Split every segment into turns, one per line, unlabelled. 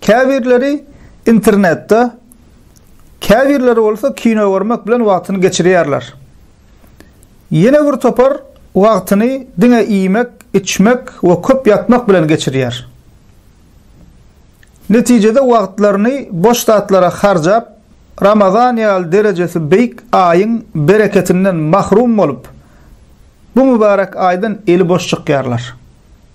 Käbirleri internetde, käbirleri bolsa kino görmek bilen wagtyny geçirýärler. Ýene bir topar wagtyny diňe iýmek, içmek we köp ýatmak bilen geçirýär. Netijede wagtlaryny boş zatlara harjap, Ramazan ýaly derejesi beýik aýyň bereketinden mahrum bolup, bu mübärek aýdan eli boş çykýarlar.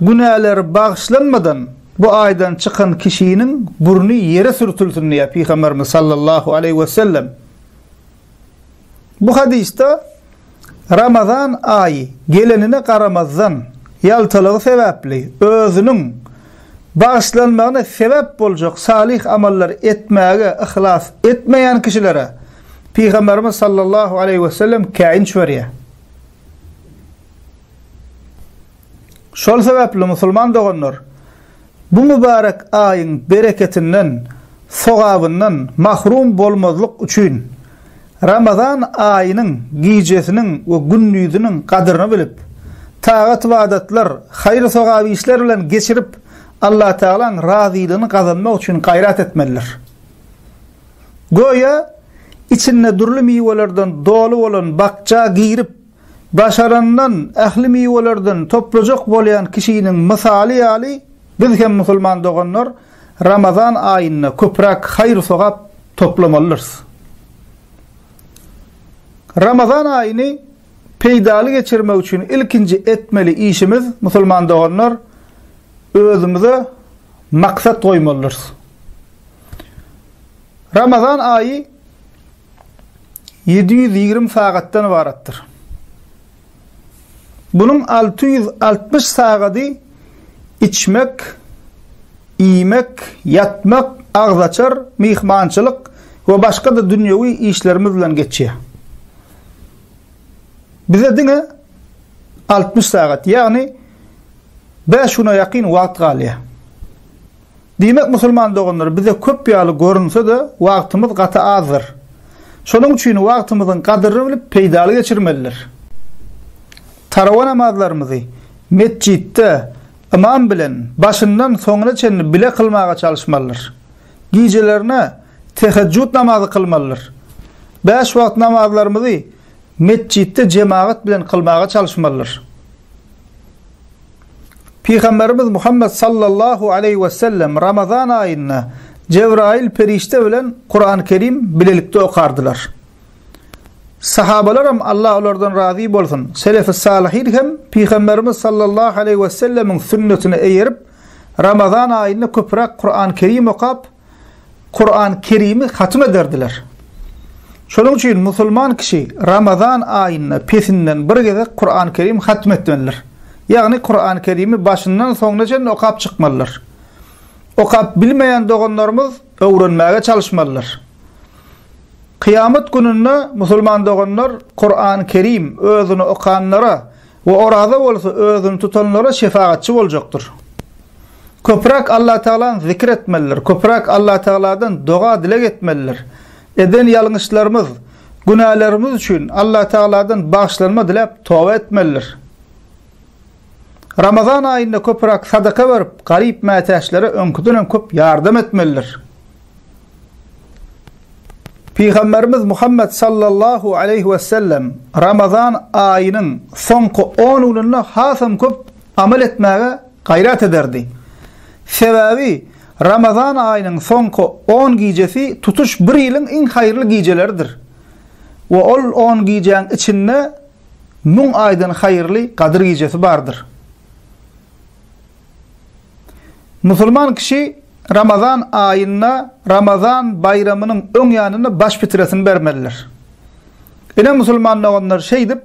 Günäleri bagyşlanmadan bu aýdan çykan kişiniň burny ýere sürtülsin diýýär Pygamberimiz sallallahu aleýhi wesellem. Bu hadysda Ramazan aýy gelenine garamazdan, ýaltalygy sebäpli özüniň bagyşlanmagyna sebäp boljak salyh amallar etmäge yhlas etmeýän kişilere Pygamberimiz sallallahu aleýhi wesellem käýinç berýär. Şol sebäpli musulman doganlar bu mübärek aýyň bereketinden, sogabyndan mahrum bolmazlyk üçin, Ramazan aýynyň gijesiniň we gündiziniň gadyryny bilip, tagat-ybadatlar, haýyr-sogap işler bilen geçirip, Allatagalaň razylygyny gazanmak üçin gaýrat etmelidir. Göýä, içinde dürli miwelerden doly bolan bakja girip, daşarandan ähli miwelerden toplajak bolýan kişiniň mysaly ýaly biz hem musulman doganlar Ramazan aýynda köpräk haýyr-sogap toplamalydyrys. Ramazan aýyny peýdaly geçirmek üçin ilkinji etmeli işimiz, musulman doganlar, özümize maksat goýmalydyrys. Ramazan aýy ýedi ýüz ýigrimi sagatdan ybaratdyr. Bunuň alty ýüz altmyş sagady içmek, iýmek, ýatmak, agzaçar, myhmançylyk we başga-da dünýewi işlerimiz bilen geçýär. Bize diňe altmyş sagat, ýagny bäş güne ýakyn wagt galýar. Diýmek, musulman doganlar, bize köp ýaly görünse-de, wagtymyz gaty azdyr. Şonuň üçin wagtymyzyň gadyryny bilip, peýdaly geçirmelidir. Tarawa namazlarymyzy metjitde ymam bilen başyndan soňuna çenli bile kylmaga çalyşmalydyr. Gijelerine tehejjut namazy kylmalydyr. Bäş wagt namazlarymyzy metjitde jemagat bilen kylmaga çalyşmalydyr. Pygamberimiz Muhammet sallallahu aleýhi we sellem Ramazan aýynda Jebraýyl perişde bilen Kur'an-Kerim bilelikde okardylar. Sahabalaram Allah olardan razy bolsun, Selefi-Salihin hem Pygamberimiz sallallahu aleýhi we sellemiň sünnetine eýerip, Ramazan aýynda köpräk Kuran Kerim okap, Kuran Kerimi hatym ederdiler. Şonuň üçin musulman kişi Ramazan aýynda pesinden bir gezek Kuran Kerim hatym etmelidir. Ýagny Kuran Kerimi başyndan soňuna çenli okap çykmalydyr. Okap bilmeýän doganlarymyz öwrenmäge çalyşmalydyr. Kyýamat gününde musulman doganlar Kuran Kerim özüni okanlara We oraza bolsa özüni tutanlara şefagatçy boljakdyr. Köpräk Allatagalany zikir etmelidir, köpräk Allatagaladan doga-dileg etmelidir. Eden ýalňyşlarymyz, günälerimiz üçin Allatagaladan bagyşlanma diläp toba etmelidir. Ramazan aýynda köpräk sadaka berip, garyp-mätäçlere öňküden hem köp ýardam etmelidir. Pygamberimiz Muhammed sallallahu aleyhi ve sellem Ramazan aýynyň soňky on gününde hasam köp amal etmäge gaýrat ederdi. Sebäbi Ramazan aýynyň soňky on gijesi tutuş bir ýylyň iň haýyrly gijeleridir we ol on gijäň içinde müň aýdan haýyrly gadyr gijesi bardyr. Musulman kişi Ramazan aýynda Ramazan baýramynyň öň ýanynda baş fitresini bermelidir. Ine musulman doganlar şeýdip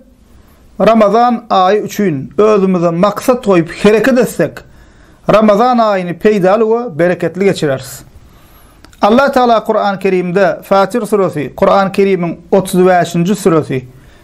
Ramazan aýy üçin özümize maksat goýup hereket etsek Ramazan aýyny peýdaly we bereketli geçireris. Allah Taala Kuran Kerimde Fatir suresi, Kuran Kerimiň otuz bäşinji suresi,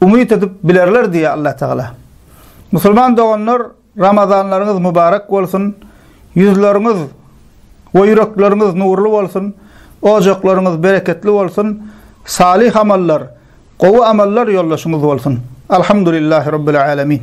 Umyt edip bilerler diýýär Allatagala. Musulman doganlar Ramazanlaryňyz mubarek bolsun, ýüzleriňiz we ýürekleriňiz nurly bolsun, ojaklaryňyz bereketli bolsun, salyh amallar, gowy amallar ýoldaşyňyz bolsun. Alhamdulillahi Rabbil Alemin.